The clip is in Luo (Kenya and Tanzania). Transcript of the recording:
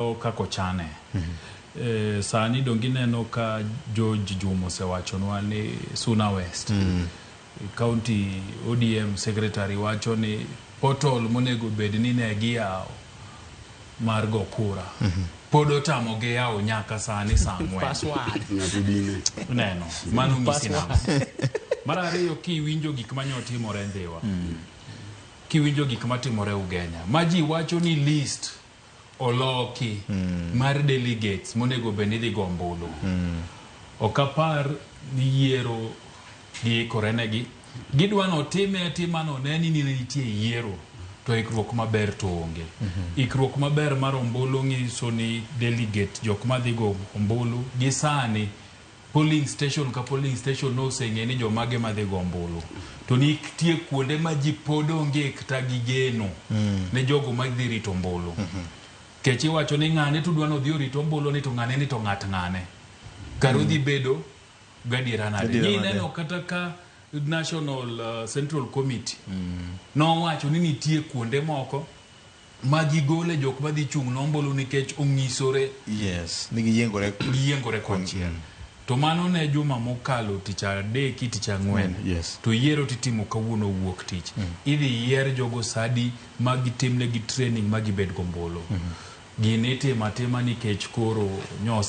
kaka ochane. E, sani donge ineno ka George Juma osewachonwa ni Suna West mm. County ODM Secretary wacho ni portal monego bed ni ne giyawo mar go kura mm -hmm. pod otamo gi yawo nyaka sani saa ang'wen neno mano ng'isi nang'o mar ariyo kiwinjo gik ma nyotimore Ndhiwa mm. kiwinjo gik matimore Ugenya ma ji wacho ni list oloki mar delegates monego bed ni idhi go ombulu. Ok apar ni yiero giikore negi. Gidwa ni otime atima ni one ni nene nitie e yiero to ikruok maber to onge. Ikruok maber mar ombulu ng'iso ni delegate jok madhi go ombulu gi sani polling station ka polling station noseng'e ni jomage madhi go ombulu to nitie kuonde ma ji pod onge kata gi geno mm. ne jogo madhi rito ombulu mm -hmm. kech iwacho ni ng'ane to udwa nodhi orito ombulu ni to ng'ane ni to ng'at ng'ane kar mm. udhi bedo gadiera nade ni ineno kata ka national uh, central committee mm. nowacho ni nitie kuonde moko ma gigole jok madhi chung' ne ombulu nikech ong'isore Yes, ni giyiengore. giyiengore konchiel to mano ne juma mokalo tich adeki tich ang'wen Mm, yes. to yiero titimo kawuono wuok tich idhi yier jogo sadi ma gitimnegi training ma gibed gombulu gini itimo atima nikech koro nyose